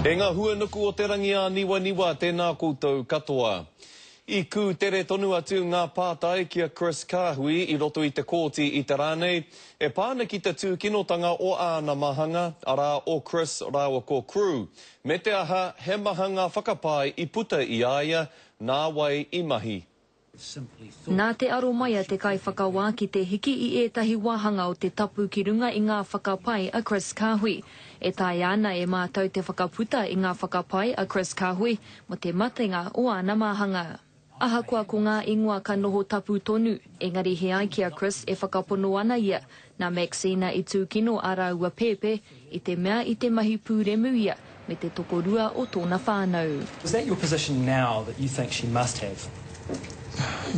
E nga hua nuku o te rangi a Niwaniwa tena koutou katoa. I kū tere tonu atu ngā pātai ki a Chris Kāhui i roto i te kōti i te rā nei, e pā ana ki te tūkinotanga o āna mahanga, arā, o Chris rāua ko Crewe, me te aha, he mahanga whakapae i puta i a ia, nā wai i mahi. Nā te aro mai a te kaiwhakawā ki te hiki i ētahi wāhanga o te tapu ki runga i ngā whakapae a Chris Kahui. E taea ana e mātou te whakaputa i ngā whakapae a Chris Kahui mō te matenga o āna māhanga. Ahakoa ko ngā ingoa ka noho tapu tonu, engari he ai ki a Chris e whakapono ana ia Nā Maxine i tūkino ā rāua pēpē i te mea i te mahi pūremu ia me te tokorua o tōna whānau. Is that your position now that you think she must have?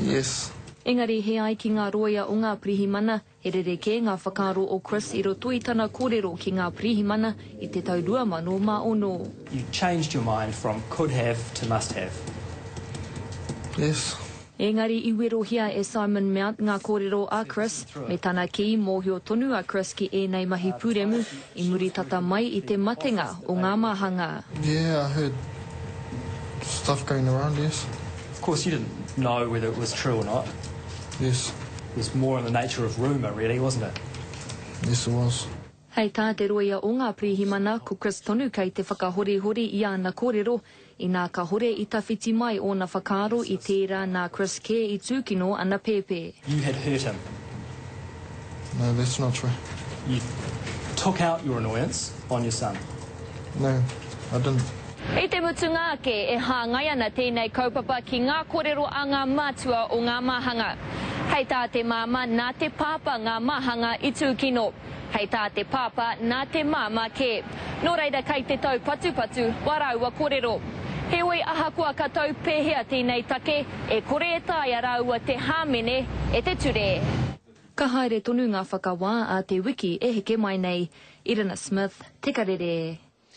Yes. Engari he ai ki ngā rōia o ngā pirihimana, he rerekē ngā whakaaro o Chris i roto i tana kōrero ki ngā pirihimana i te tau 2006. You changed your mind from could have to must have? Yes. Engari i werohia e Simon Mount ngā kōrero a Chris, me tana kī mōhio tonu a Chris ki ēnei mahi pūremu i muri tata mai i te matenga o ngā māhangā. Yeah I heard stuff going around yes. Of course you didn't know whether it was true or not. Yes. It was more in the nature of rumour really wasn't it? Yes it was. Hei tā te rōia o ngā pirihimana, ko Chris tonu kei te whakahorihori i āna kōrero, inā ka hore i tawhiti mai ōna whakaaro i tērā nā Chris kē i tūkino ana pēpē. You had hurt him. No, that's not true. You took out your annoyance on your son. No, I didn't. I te mutunga ake, e hāngai ana tēnei kaupapa ki ngā kōrero a ngā mātua o ngā māhanga. Hei tā te māmā, nā te pāpā ngā māhanga i tūkino. Hei tā te pāpā, nā te māmā kē. Nō reira kei te taupatupatu wā rāua korero. Heoi ahakoa ka tau pēhea tēnei take, e kore e taea rāua te hāmene e te ture. Ka haere tonu ngā whakawā a te wiki e heke mai nei. Irina Smith, Te Karere.